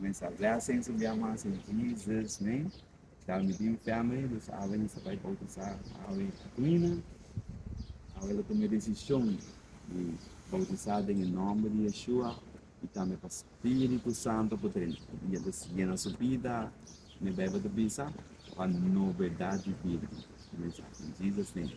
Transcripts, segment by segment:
Comensa a bless e comensa bia mas in Jesus name. Dal mi biu family los awe mi sa bai bautisa awe Aquina. Awe lo tuma e decision di bautisa den e nomber di Yeshua y tambe pa spiritu santo poder yena su bida. Mi bebe ta bisa pa novedad di bida. Comensa aki in Jesus name.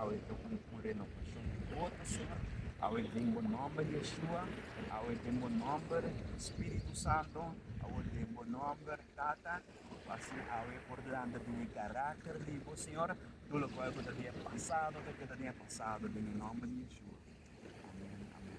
Awe ta un un renovacion di otro sort, awe den bo nomber Yeshua, awe den bo nomber Spiritu Santo, awe den bo nomber Tata, cu asina awe e por blanda den e caracter di bo Señor, tur locual cu ta den e pasado ta keda den e pasado den e nomber di Yeshua. Amen, amen.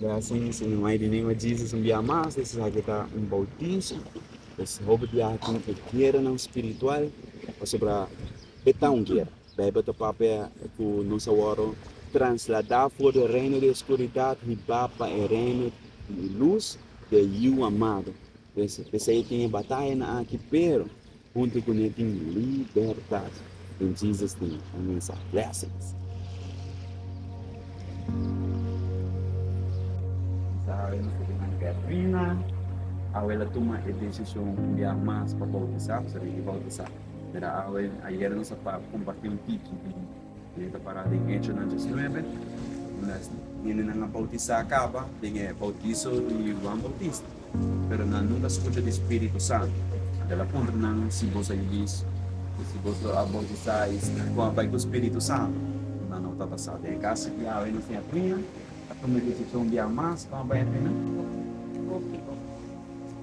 Gracias Señor in the name of Jesus un bia mas e sa ki ta un bautizo es hopi bia tin e guera nan spiritual pasobra e ta un guera. Bijbel ta papia ku nos a wòrdu transladá for di e reino di e skuridat hibá pa e reino di e lus di e Yu amado. P'esei e tin e bataya na aki, pero huntu ku ne tin libertat. Den Jesus tin un mensahe. Blessings. Sabe nos ta binan keda fina. Awel a tuma e desishon ku ya mas pa boutisá, pasobra i boutisá. Mira awe, ayer nos a comparti un tiki di e ta para den Hechonan 19, unda es hendenan a bautisa caba den e bautizo di Juan Bautista, pero nan nunca a scucha di Spirito Santo. Anto el a puntra nan, Si bos a yiz, y si bos lo a bautisa, y con a bay cu Spirito Santo? Nan no ta basa den e casi di awe nos tin a pia, a tuma e decision di a mas con a bay a pia nan? Boki bo.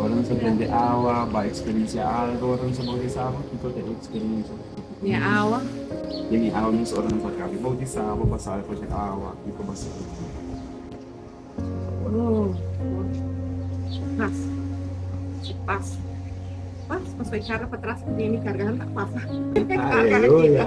Ora nos a prende awa, ba eksperensia algo, ora nos a boutisá bo, kiko ta e eksperensia ku bo ta tene den e awa mes ora nos a kaba di boutisá? Bo basá riba ku e awa, kiko bo a sibi di bo? Aleluya!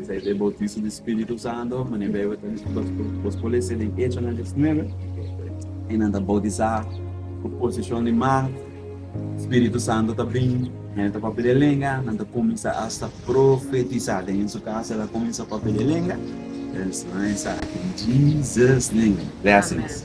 Esei ta e boutiso di Spiritu Santo, manera bo tabata lei. Bos por lesa den Echonan diecinuebe, e nan ta boutisá ku poseshon di magt. Spiritu Santo ta bin, hende ta papia den lenga, nan ta kuminsá asta profetisá den su kas. E ta kuminsá papia den lenga, es nan e sa den Jesus name. Blessings.